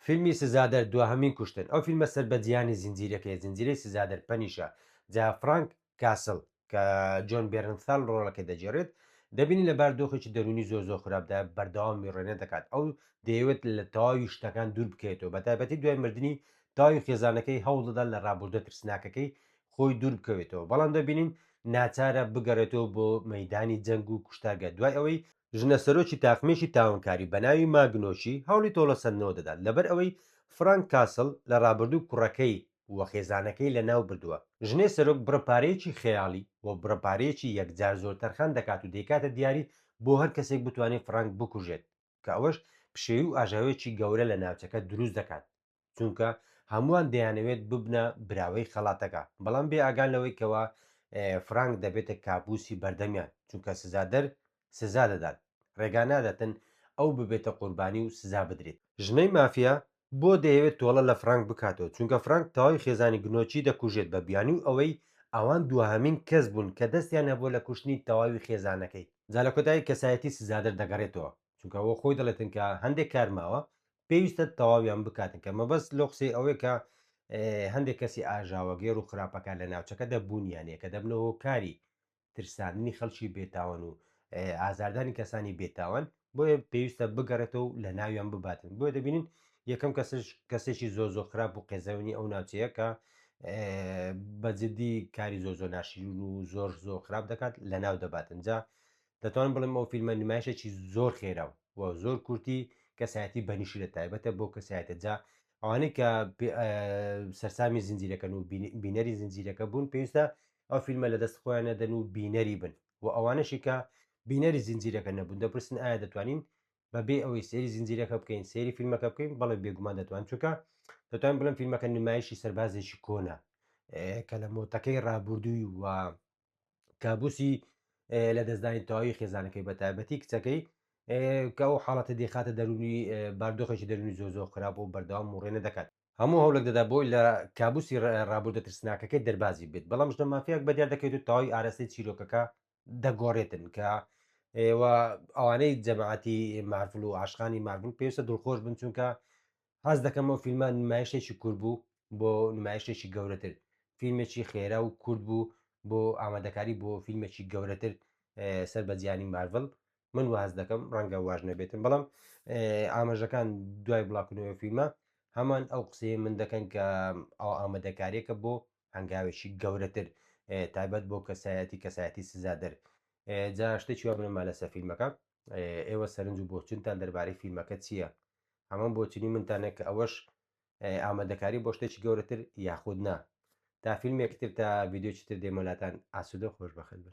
فیلمی سزادەر دواهەمین کوشتن ئەو فیلمە سەر بە جیهانی زنجیرەکەیە زنجیرەی سزادەر پەنیشە جا فرانک کاسڵ کە جۆن بێرنثال ڕۆڵەکەی دەگێڕێت دەبینین لە بار دۆخێکی دەروونی زۆر زۆر خراپدا بەردەوام میڕێنە دەکات ئەو دەیەوێت لە تەواوی شتەکان دوور بکەوێتەوە بە تایبەتی دوای مردنی تاوی خێزانەکەی هەوڵ دەدات لە ڕابوردە ترسناکەکەی خۆی دوور بکەوێتەوە، بەڵام دەبینین ناچارە بگەڕێتەوە بۆ مەیدانی جەنگ و کوشتارگە دوای ئەوەی ژنە سەرۆکی تاقمێکی تاوانکاری بە ناوی ماگنۆچی هەوڵی تۆڵەسەندنەوە دەدات لەبەر ئەوەی فرانک کاسڵ لە ڕابردوو کوڕەکەی و خێزانەکەی لەناو بردووە. ژنێ سەرۆک بڕە پارەیەکی خەیاڵی و بڕە پارەیەکی یەکجار زۆر تەرخان دەکات و دەیکاتە دیاری بۆ هەر کەسێک بتوانێت فرانک بکوژێت کە ئەوەش پشێوی و ئاژاوەیەکی گەورە لە ناوچەکە دروست دەکات. چونکە هەمووان دەیانەوێت ببنە براوەی خەڵاتەکە بەڵام بێ ئاگان لەوەی کەەوە فرانک دەبێتە کابوسی بەردەمیان چونکە سزادەر سزا دەدات ڕێگا نادەتن ئەو ببێتە قوربانی و سزا بدرێت ژنەی مافیا بۆ دەیەوێت تۆڵە لە فرانک بکاتەوە چونکە فرانک تەواوی خێزانی گنۆچی دەکوژێت بە بیانی و ئەوەی ئەوان دوهەمین کەس بوون کە دەستیان هەبووە لە کوشتنی تەواوی خێزانەکەی جا لە کۆتایی کەسایەتی سزادەر دەگەڕێتەوە چونکە ئەوە خۆی دەڵێتن کە هەندێک کار ماوە پێویستە تەواویان بکاتن کە مەبەست لۆ قسەی ئەوەیە کە هەندێک کەسی ئاژاوە گێر و خراپەکان لە ناوچەکەدا بوونیانە کە دەبنە هۆکاری ترساندنی خەڵکی بێتاوان و ئازاردانی کەسانی بێتاوان بۆیە پێویستە بگەڕێتەوە و لە ناویان بباتن بۆیە دەبینین یەکەم کەسش کەسێکی زۆ زۆ خراپ و قێزەونی ئەو ناوچەیە کە بەجددی کاری زۆ زۆ ناشیرون و زۆر زۆر خراپ دەکات لە ناو دەباتن جا دەتوانم بڵێم ئەو فیلمە نمایشێکی زۆر خێرا و و زۆر کورتی کەسایەتی بەنیشی لە تایبەتە بۆ کەسایەتە جا ئەوانەی کە سەرسامی زنجیرەکەن و بینەری زنجیرەکە بوون پێویستە ئەو فیلمە لە دەست خۆیان نەدەن و بینەری بن و ئەوانەشی کە بینەری زنجیرەکە نەبوون دەپرسن ئایا دەتوانین بەبێ ئەوەی سێری زنجیرەکە بکەین سێری فیلمەکە بکەین بەڵێ بێگومان دەتوان چونکە دەتوان بڵم فیلمەکە نمایشی سەربازێکی کۆنە کە لە مۆتەکەی ڕابردووی و کابوسی لە دەستدانی تەواوی خێزانەکەی بە تایبەتی کچەکەی کە ئەو حاڵەتە دێخاتە دەرونی باردۆخێکی دەرونی زۆ زۆر خراپ و بەردەوام مڕێنە دەکات هەموو هەوڵێک دەدا بۆی لە کابوسی ڕابوردە ترسناکەکەی دەربازی بێت بەڵام ژنە مافیاک بە دیار دەکەوێت و تەواوی ئارەسەی چیرۆکەکە دەگۆڕێتن کە ئەوانەی جەماعەتی مارفل و عاشقانی مارفل پێویستە دڵخۆش بن چونکە هەست دەکەم ئەو فیلمە نمایشێکی کورد بوو بۆ نمایشێکی گەورەتر فیلمێکی خێرا و کورد بوو بۆ ئامادەکاری بۆ فیلمێکی گەورەتر سەر بە جیانی مارڤل من واز دەکەم ڕەنگە واژ نەبێتم بەڵام ئاماژەکان دوای بڵاکردنەوە فیلمە هەمان ئەو قسەیە من دەکەن کە ئەو ئامادەکارێکە بۆ هەنگاوێکی گەورەتر تایبەت بۆ کەسایەتی کەسایەتی سزادەر جا شتێکی وابنەما لەسەر فیلمەکە ئێوە سەرنج و بۆچونتان دەربارەی فیلمەکە چییە؟ هەمان بۆچونی منتانە کە ئەوەش ئامادەکاری بۆ شتێکی گەورەتر یاخود نا تا فیلمێکتر تا ڤیددیوچی تر دێمەلاتان ئاسوودە خۆش بەخت بن